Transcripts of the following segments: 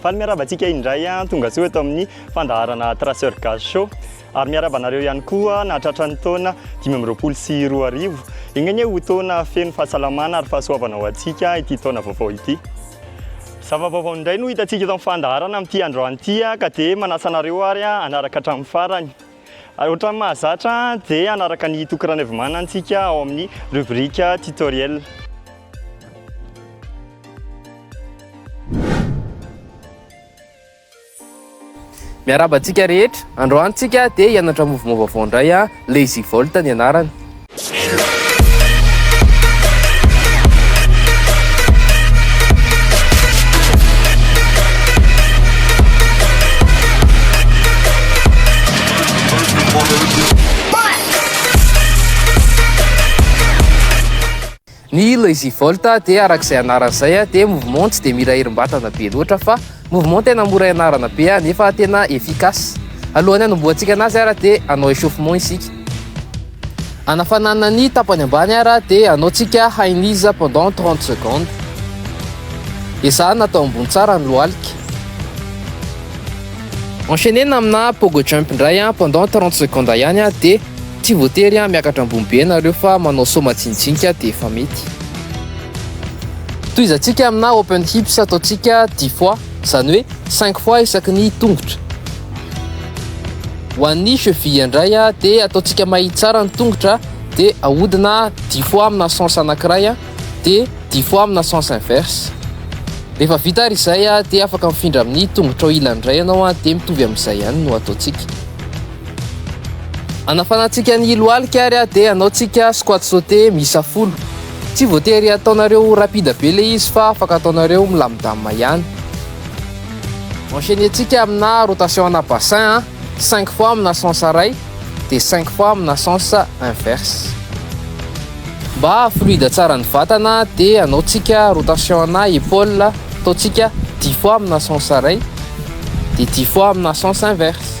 Faly miaraba antsika indray an, tonga soa eto amin'ny fandaharana Traceur Gaz Show. Ary miaraba anareo ihany koa nahatratra ny taona 2020 sy 2021. Enganie ho taona feno fahasalamana ary fahasoavana ho antsika ity taona vaovao ity. Zava-baovao indray no hitantsika eto amin'ny fandaharana amin'ity androany ity ka dia manasa anareo ary hanaraka hatramin'ny farany. Ary ohatran'ny mahazatra dia hanaraka an'i Toky Ranaivomana antsika ao amin'ny rubrique tutoriel. Miarahaba antsika rehetra. Androany tsika dia hianatra mouvement vaovao indray a, Lazy Volt ny anarany. Ny Lazy Vault dia araka izay anarany izay dia mouvement tsy dia mila herim-batana be loatra fa mouvement tena mora ianarana be nefa tena efficace. Alohan'ny hanombohantsika anazy ary dia hanao échauffement isika. Hanafanana ny tapany ambany ary dia hanaontsika high knees pendant 30 secondes. Ezahana atao ambony tsara ny lohalika. Enchaîner amina pogo jump indray pendant 30 secondes ihany dia Tsy voatery miakatra ambony be ianareo fa manao saut majinijinika dia efa mety. Tohizantsika amina open hips ataontsika 10 fois, izany hoe 5 fois isaky ny tongotra. Ho an'ny cheville indray dia ataontsika mahitsy tsara ny tongotra dia ahodina 10 fois amina sens anankiray dia 10 fois amina sens inverse. Rehefa vita ary izay dia afaka mifindra amin'ny tongotrao ilany indray ianao dia mitovy amin'izay ihany no ataontsika. Anafanantsika ny lohalika ary dia hanaontsika squat sauté miisa folo. Tsy voatery ataonareo rapide be ilay izy fa afaka ataonareo milamindamina ihany. Enchaîner-tsika amina rotation ana bassin, 5 fois amina sens iray dia 5 fois amina sens inverse. Mba haha-fluide tsara ny vatana dia hanaontsika rotation ana épaule, ataontsika 10 fois amina sens iray dia 10 fois amina sens inverse.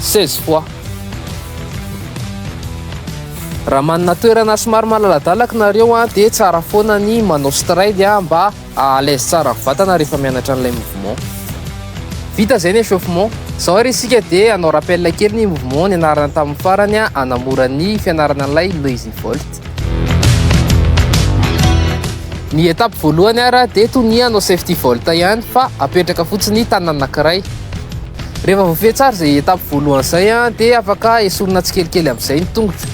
16 fois. Raha manana toerana somary malaladalaka nareo an, dia tsara foana ny manao stride an, mba à l'aise tsara ny vatana rehefa mianatra an'ilay mouvement. Vita izay ny échauffement. Izao ary isika dia hanao rappel kely ny mouvement nianarana tamin'ny farany an, hanamora ny fianarana an'ilay Lazy Vault. Ny étape voalohany ary dia toy ny hanao safety vault ihany fa apetraka fotsiny ny tanana anankiray. Rehefa voafehy tsara izay étape voalohany izay dia afaka esorina tsikelikely amin'izay ny tongotra.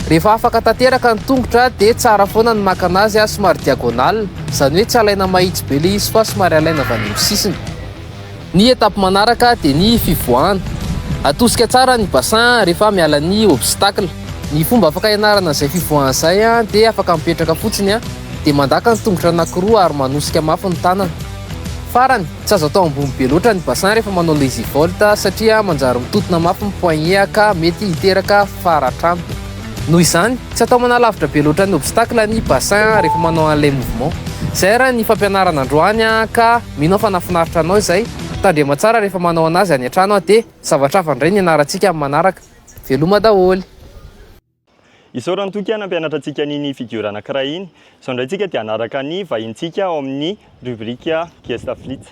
Rehefa afaka tanteraka ny tongotra dia tsara foana ny maka anazy somary diagonale, izany hoe tsy alaina mahitsy be ilay izy fa somary alaina avy any amin'ny sisiny. Ny étape manaraka dia ny fivoahana. Atosika tsara ny bassin rehefa miala ny obstacle. Ny fomba afaka hianarana izay fivoahana izay dia afaka mipetraka fotsiny dia mandaka ny tongotra anankiroa ary manosika mafy ny tanana. Farany, Tsy azo atao ambony be loatra ny bassin rehefa manao lazy vault satria manjary mitotona mafy ny poignet ka mety hiteraka faratr'anto. Noho izany, tsy atao manalavitra be loatra ny obstacle ny bassin rehefa manao an'ilay mouvement. Izay ary ny fampianarana androany ka mino aho fa nahafinaritra anao izay. Tandrema tsara rehefa manao anazy any an-trano dia zavatra hafa indray ny ianarantsika amin'ny manaraka. Veloma daholo. Isaorany toky aho nampianatra antsika an'iny figure anankiray iny. Izao indray tsika dia hanaraka ny vahintsika ao amin'ny rubrique Gesta Flits.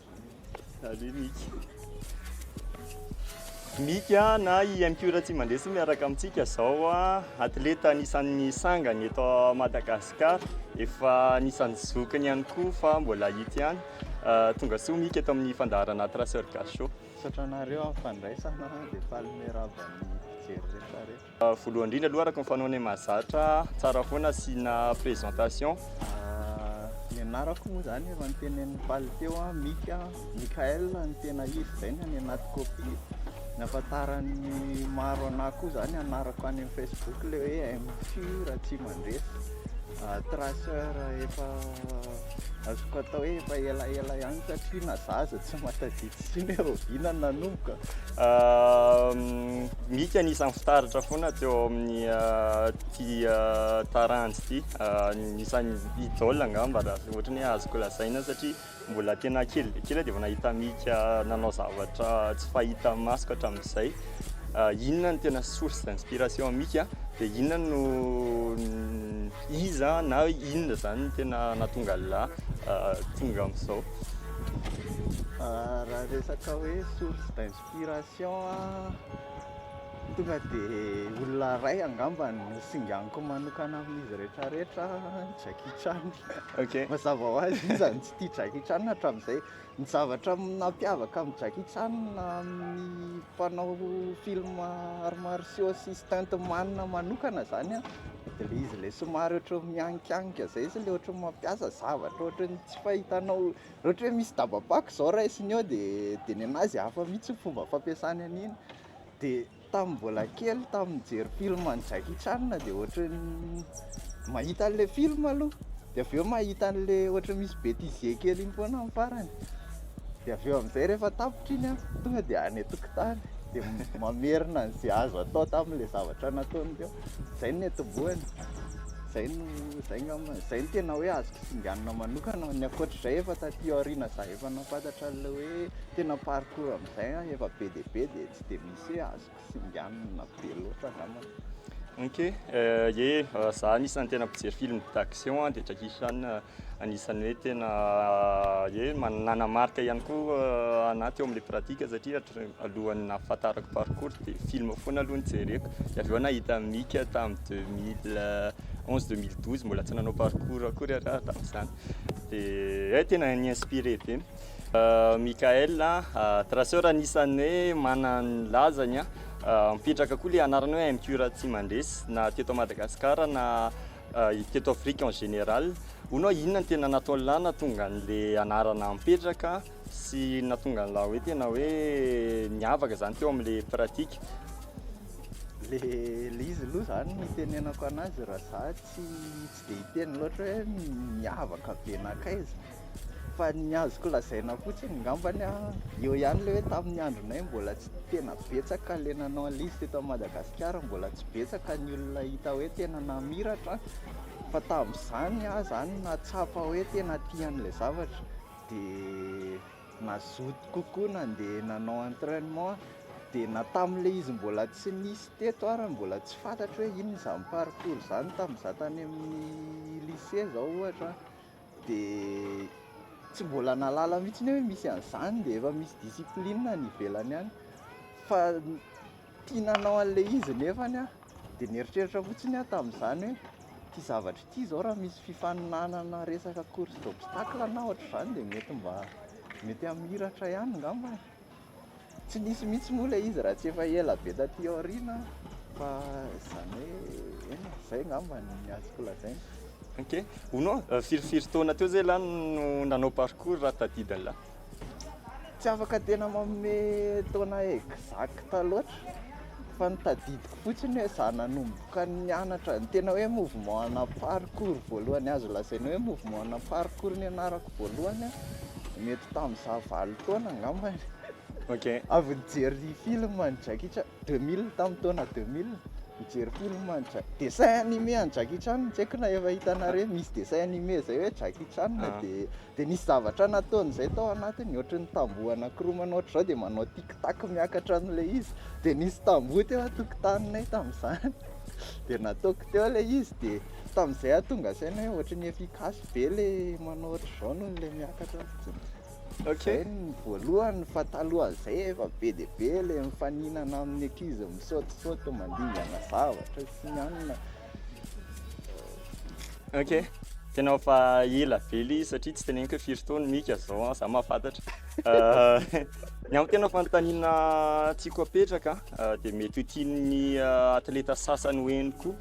Salut Miky. Miky a, na i MQ Ratsimandresy miaraka amintsika izao a, atleta anisan'ny sangany eto Madagasikara, efa anisan'ny zokiny ihany koa fa mbola hita ihany. Euh, tonga soa Miky eto amin'ny fandaharana Traceur Gachot. Misaotra anareo amin'ny fandraisana dia faly miarahaba ny mpijery rehetra rehetra. Voalohany indrindra aloha araka ny fanaonay mahazatra ahy, tsara foana asiana présentation. Ny anarako moa izany efa notenenin'i Paly teo, Mika, Mickaël no tena izy izay no any anaty copie. Ny ahafantaran'ny maro anah koa izany anarako any amin'ny Facebook ilay hoe MFIO Ratsimandresy, traceur efa. Azoko atao hoe efa elaela ihany satria na za aza tsy mahatadidy intsony hoe rahoviana no nanomboka. Mika anisan'ny fitaratra foana teo amin'ny ity taranja ity. Anisan'ny idole angamba raha ohatra ny hoe azoko lazaina satria mbola tena kely dia kely aho dia efa nahita Mika nanao zavatra tsy fahita masoko hatramin'izay. Inona no tena source d'inspiration an'i Mika dia inona no Iza na inona izany no tena nahatonga an'lah tonga amin'izao? Raha resaka hoe source d'inspiration an, tonga dia olona iray angamba no singaniko manokana amin'izy rehetrarehetra, Jackie Chan. Ok. Mazava ho azy, iza no tsy tia Jackie Chan hatramin'izay? Ny zavatra nampiavaka an'i Jackie Chan amin'ny mpanao film arts martiaux sy stunt man manokana zany an, de le izy le somary ohatry ny mianikianika zay izy le ohatry ny mampiasa zavatra ohatry ny tsy fahitanao, raha ohatra hoe misy dabam-pako zao raisiny eo de de ny anazy hafa mihitsy ny fomba fampiasany an'iny de. Tamin'ny mbola kely tamin'ny nijery film an'i Jackie Chan dia ohatry ny mahita an'ilay film aloha dia avy eo mahita an'ilay ohatry ny misy bêtisier kely iny foana amin'ny farany dia avy eo amin'izay rehefa tapitra iny an tonga dia any an-tokotany dia mamerina an'izay azo atao tamin'ilay zavatra nataony teo, izay no niantombohany, izay no, izay angamba, izay no tena hoe azo kisinganina manokana, ny ankoatr'izay efa taty aoriana za efa nahafantatra an'ilay hoe tena parcours. Zay an efa be dia be dia tsy dia misy hoe azoko singanina be loatra angambany. Ok, ye, za anisan'ny tena mpijery film d'action an, dia Jackie Chan anisan'ny hoe tena ye nanamarika ihany koa anah teo amin'ilay pratique satria alohan'ny nahafantarako parkour dia film foana aloha no jereko, dia avy eo nahita Mika tamin'ny deux mille onze, deux mille douze mbola tsy nanao parkour akory ialahy tamin'izany, dia ye tena ni-inspirer be. Michael Traceur anisan'ny hoe manana ny lazany an, mipetraka koa ilay anarana hoe MQ raha tsy mandresy na teto Madagascar na teto Afrique en général, hono aho inona no tena nataon'lah nahatonga an'ilay anarana mipetraka sy nahatonga an'lah hoe tena hoe niavaka zany teo amin'ilay pratique. Le le izy aloha zany ny itenenako anazy raha za tsy tsy dia hiteny loatra hoe miavaka be nankaiza, Fa ny azoko lazaina fotsiny ngambany a, eo ihany ilay hoe tamin'ny andronay mbola tsy tena betsaka ilay nanao an'ilay izy teto Madagasikara, mbola tsy betsaka ny olona hita hoe tena namiratra, fa tamin'izany aho izany nahatsapa hoe tena tia an'ilay zavatra dia nazoto kokoa nandeha nanao entrainement aho, dia na tamin'ilay izy mbola tsy nisy teto ary mbola tsy fantatro hoe inona izany parcours izany tamin'izaho tany amin'ny lycée izao ohatra an. dia tsy mbola nahalala mihitsy hoe misy an'izany dia efa misy discipline any ivelany any fa tia nanao an'ilay izy nefa aho dia nieritreritra fotsiny aho tamin'izany hoe ity zavatra ity izao raha misy fifaninanana resaka course d'obstacle na ohatr'izany dia mety mba mety hamiratra ihany angamba e Tsy nisy mihitsy moa ilay izy raha tsy efa ela be taty aoriana fa izany hoe eny e, izay angamba no azoko lazaina. Ok, hono an, firy firy taona teo zay lany no nanao parcours raha tadidiny lany? Tsy afaka tena manome taona exacte loatra. Fa ny tadidiko fotsiny hoe za nanomboka nianatra ny tena hoe mouvement ana parcours voalohany azo lazaina hoe mouvement ana parcours nianarako voalohany a, mety tamin'izaho valo taona angamba e. Ok. Avy nijery film an'i Jackie Chan, deux mille, tamin'ny taona deux mille, nijery film an'i Jack- dessin animé an'i Jackie Chan tsy haiko na efa hitanareo misy dessin animé zay hoe Jackie Chan dia Dia nisy zavatra nataony izay tao anatiny, ohatry ny tamboho anankiroa ohatry izao dia manao tic tac miakatra an'ilay izy, dia nisy tamboho teo an-tokotaninay tamin'izany, dia nataoko teo ilay izy, dia tamin'izay aho tonga saina hoe ohatry ny efficace be ilay manao ohatry izao noho ilay miakatra fotsiny. Ok. Zay ny voalohany fa talohan'izay efa be dia be ilay mifaninana amin'ny ankizy misaotisaoty mandingana zavatra sy ny anona, Ok. Tena efa ela be ilay izy satria tsy teneniko hoe firy taona mika zao an, za mahafantatra. Euh, ny amin'ny tena fanontaniana tiako apetraka euh, dia mety ho tian'ny euh, atleta sasany ho eny koa.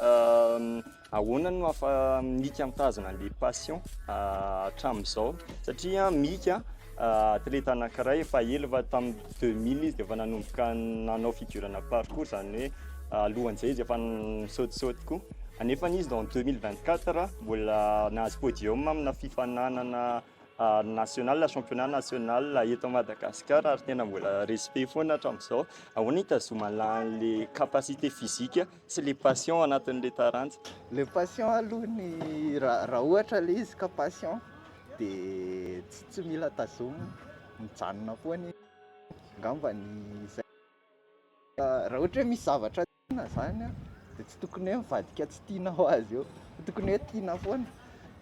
Euh, ahoana no hafa mika mitazona an'ilay passion euh, hatramin'izao? Satria mika Atleta anankiray efa ela fa tamin'ny deux mille izy dia efa nanomboka nanao fidurana parcours izany hoe alohan'izay izy efa nisaotisaoty koa. Anefany izy en deux mille vingt quatre mbola nahazo podium amina fifaninanana national, championnat national eto Madagasikara ary tena mbola respect foana hatramin'izao. Ahoana no hitazomana an'ilay capacité physique Tsy le passion anatin'le taranja. Le passion aloha ny raha ohatra le izy ka passion de tsy mila tazomina, mijanona foana izy, angamba ny izay raha ohatra hoe misy zavatra tiana zany de tsy tokony hoe mivadika tsy tiana ho azy eo fa tokony hoe tiana foana.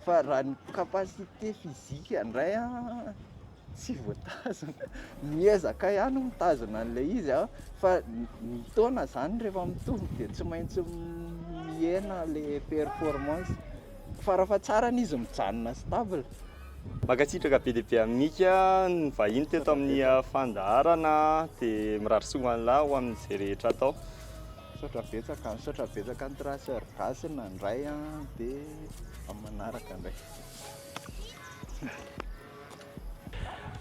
Fa raha ny capacité physique ndray an, tsy voatazona, miezaka ihany mitazona an'ilay izy an, fa ny taona zany rehefa mitombo dia tsy maintsy mihena ilay performance, farafahatsarany izy mijanona stable. Mankasitraka be dia be an'i Mika nivahiny teto amin'ny fandaharana, dia mirary soa ho an'lah ho amin'izay rehetra atao. Misaotra betsaka, misaotra betsaka an'i Traceur Gasy nandray an, dia amin'ny manaraka indray.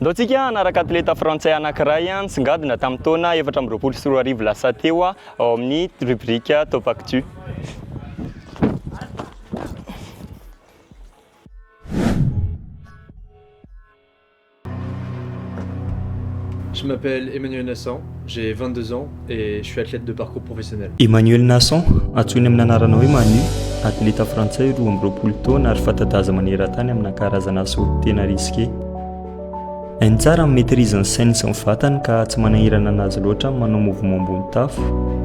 Ndao tsika hanaraka atleta frantsay anankiray nisongadina tamin'ny taona efatra amby roapolo sy roa arivo lasa teo ao amin'ny rubrique Top Actu. Je m'appelle Emmanuel Nassan, j'ai vingt deux ans et je suis athlète de parcours professionnel. Emmanuel Nassan, antsoiny amin'ny anarana hoe Manu, atleta frantsay roa amby roapolo taona ary fanta-daza maneran-tany amina karazana asa hody tena risqué. Hainy tsara amin'ny maîtrise ny sainy sy ny vatany ka tsy manahirana anazy loatra amin'ny manao mouvement ambony tafo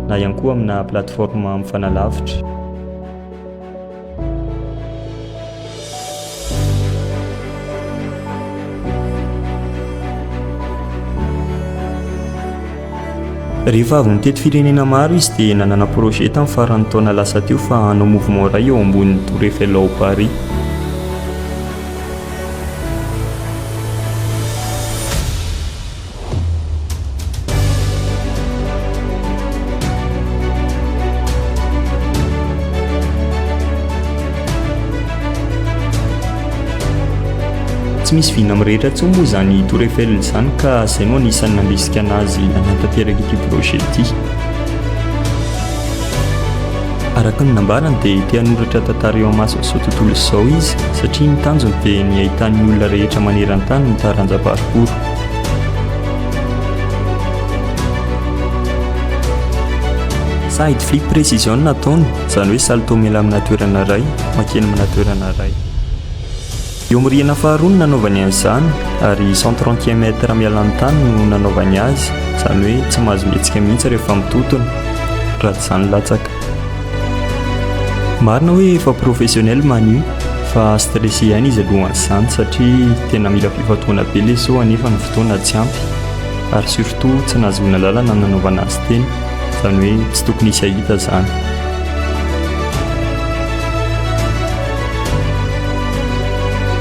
na ihany koa amina plateforme mifanalavitra. Rehefa avy nitety firenena maro izy dia nanana projet tamin'ny faran'ny taona lasa teo fa hanao mouvement iray eo ambonin'ny Tour Eiffel ao Paris. Tsy misy vina amin'ny rehetra intsony moa izany Tour Eiffel izany ka izay no anisan'ny nandrisika anazy nanatanteraka ity projet ity. Araka ny nambarany dia te hanoratra tantara eo amason'izao tontolo izao izy satria ny tanjony dia ny hahitan'ny olona rehetra maneran-tany ny taranja parcours. Side flip precision no ataony, izany hoe salto mila amina toerana iray, mankeny amina toerana iray. Eo amin'ny rihana faharoa no nanaovany an'izany, ary cent trente e mètre miala amin'ny tany no nanaovany azy, izany hoe tsy mahazo mihetsika mihitsy rehefa mitotona, raha tsy izany latsaka. Marina hoe efa professionnel Manu fa stressé ihany izy alohan'izany satria tena mila fifantohana be ilay show anefa ny fotoana tsy ampy ary surtout tsy nahazoana lalana nanaovana azy teny izany hoe tsy tokony hisy hahita izany.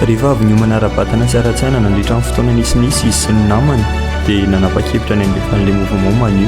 Rehefa avy niomana ara-batana sy ara-tsaina nandritra ny fotoana nisinisy izy sy ny namany dia nanapa-kevitra ny handefa an'ilay mouvement Manu.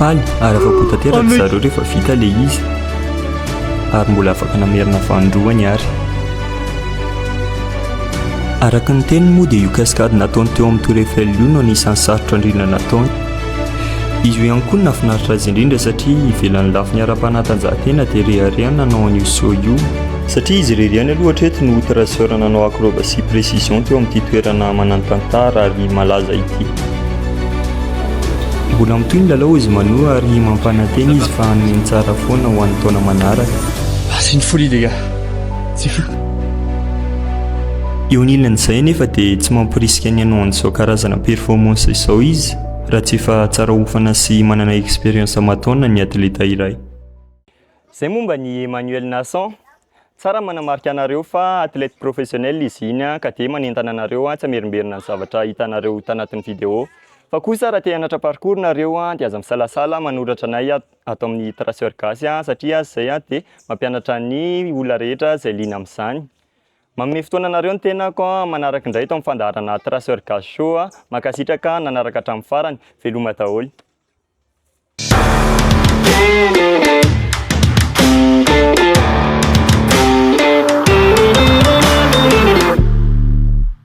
Any ary afa-po tanteraka zareo rehefa vita ilay izy ary mbola afaka namerina vanindroa ny ary araka ny teniny moa dia io cascade nataony teo amin'ny tour Eiffel io no anisan'ny sarotra indrindra nataony Izy io ihany koa no nahafinaritra azy indrindra satria ivelan'ny lafiny ara-panatanjahantena dia rehareha ny nanao an'io saut io, satria izy irery ihany aloha hatreto no traceur nanao acrobatie précision teo amin'ity toerana manan-tantara ary malaza ity. Mbola mitohy ny lalao hozy Mano ary mampanantena izy fa hanome ny tsara foana ho an'ny taona manaraka. Asin'ny folie les gars. Tsy fantatra. Eo anilan'izay anefa dia tsy mamporisika ny hanao an'izao karazana performance izao izy raha tsy efa tsara hofana sy manana expérience aman-taonina ny atleta iray. Izay momba an'i Emmanuel Nassan. Tsara ny manamarika anareo fa athlète professionnel izy iny ka dia manentana anareo tsy hamerimberina ny zavatra hitanareo tanatin'ny vidéo. Fa kosa raha te hanatra parcours nareo dia aza misalasala manoratra anay ato. ato amin'ny Traceur Gasy satria azy izay dia mampianatra ny olona rehetra izay liana amin'izany. Manome fotoana anareo ny tenako manaraka indray eto amin'ny fandaharana Traceur Gasy Show. Mankasitraka nanaraka hatramin'ny farany. Veloma daholo.